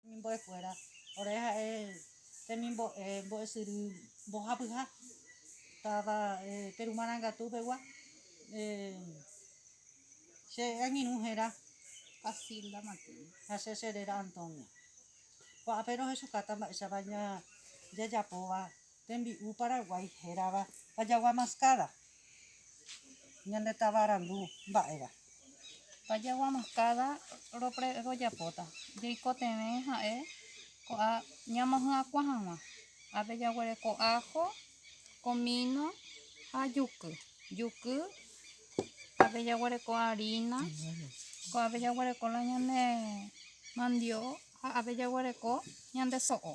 Mimbo'ekuéra, ore ha'e temimbo'e mbo'esyry mbohapyha táva Peru Marangatu pegua. Che angirũ héra Casilda Martínez ha che che réra Antonia. Ko'ápe rohechukáta mba'éichapa jajapóva Tembi'u Paraguái hérava pajagua maskáda, ñande tava randu mba'éva. Pajagua maskáda rojapóta jeikotevẽ ha'e ko'a ñamohyakuã hag̃ua. Ápe jaguereko ájo, komíno ha juky. Juky ápe jaguereko arína, ko'ápe jaguereko la ñande mandio'o ha ápe jaguereko ñande so'o.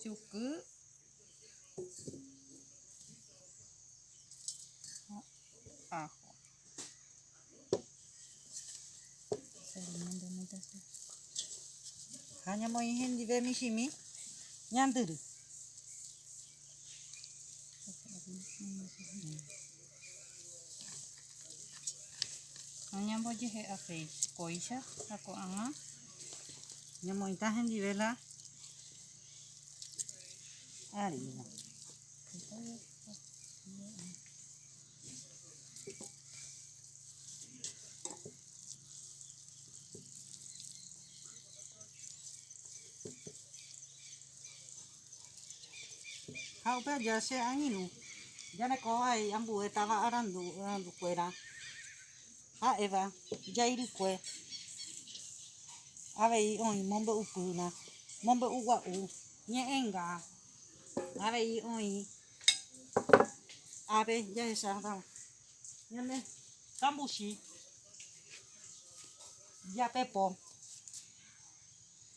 Juky. Ajo. Ha ñamoĩ hendive michĩmi ñandyry. Ñambojehe'a péi kóicha ha ko'ag̃a ñamoĩta hendive la harína. Ha upe aja che angirũ jareko vai ambue táva arandu, arandu kuéra ha'éva jairykue avei oĩ mombe'upýna, mombe'u gua'u, ñe'ẽnga, avei oĩ ave jahecháva ñande kambuchi, japepo.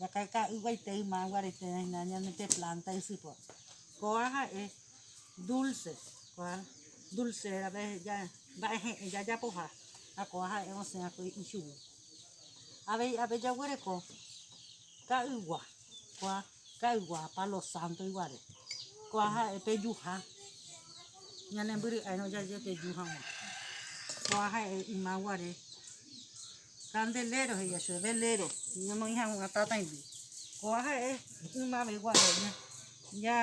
Jakaka'yguaitei mágua reiterãhína ñane pe plánta ysypóra. Kóva ha'e dúlse, kóva dulse rape mba'e he'ẽ jajapoha ha kóva ha'e osẽ va'ekue ichugui. Avei ápe jaguereko ka'ygua, kóva ka'ygua palo sánto iguare, kóva ha'e pejuha, ñanembyry'airõ jaje peju hag̃ua, kóva ha'e ymaguare. Candelero he'íva chupe, velero ñonoĩ hag̃ua tatãigui. Kóva ha'e ymavegua ña, ña,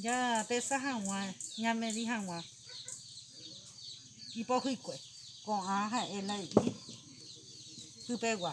ñapesa hag̃ua, ñamedi hag̃ua ipohykue. Ko'ã ha'e la he'i pypegua.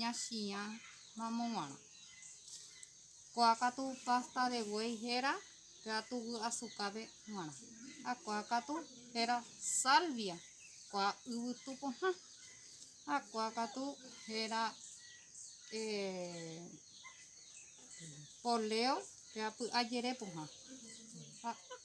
Ñachiã ramo guarã. Ko'a katu pasta de buey héra katu vy'asukápe guarã. Ha ko'a katu héra salvia, ko'a yvytu pohã. Ha ko'a katu héra eh, poleo, ko'a py'a jere pohã.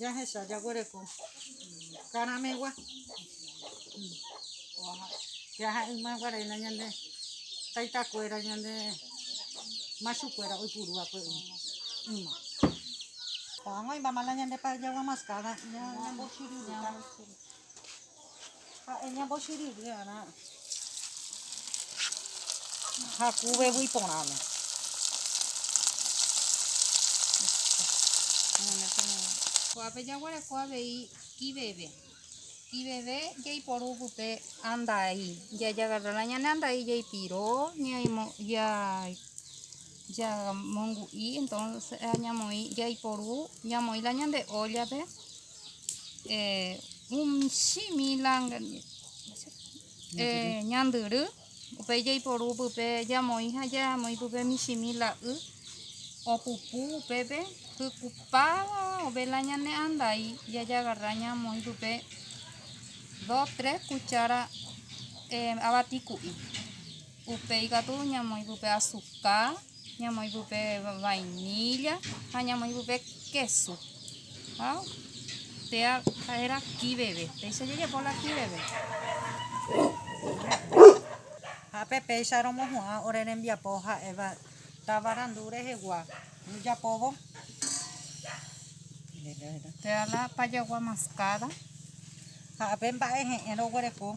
Jahecha jaguereko karamegua jaha ymaguarena ñande taitakuera ñande machukuera oipurua pe yma oag̃oimama la ñande payagua mascada ñambochiryrypa Ha'e ñambochyrýrõ va'erã hakuveguy porãme. Kuápe jaguereko avei kiveve. Kiveve jaiporu pype andai. Jajagarrála ñane andai jaipiro, jamongu'i, entonces ñamoĩ jaiporu, ñamoĩla ñande óllape, Umi mila ñandyry, upéi jaiporu pype jamoĩ ha jamoĩ pype michĩ mila y opupu upépe hykupáva vela ñane andai jajagarra ñamoĩ pype dos, tres kuchára avati ku'i. Upéi katu ñamoĩ pype azuka, ñamoĩ pype vainilla ha ñamoĩ pype késu. Ha téa ha'éra kiveve, péicha jajapo la kiveve. Ha pe péicha romohu'ã ore rembiapo ha'éva tavarandu rehegua ojapóvo. Téa la pajagua mascada. Ha pe mba'e he'ẽ roguereko.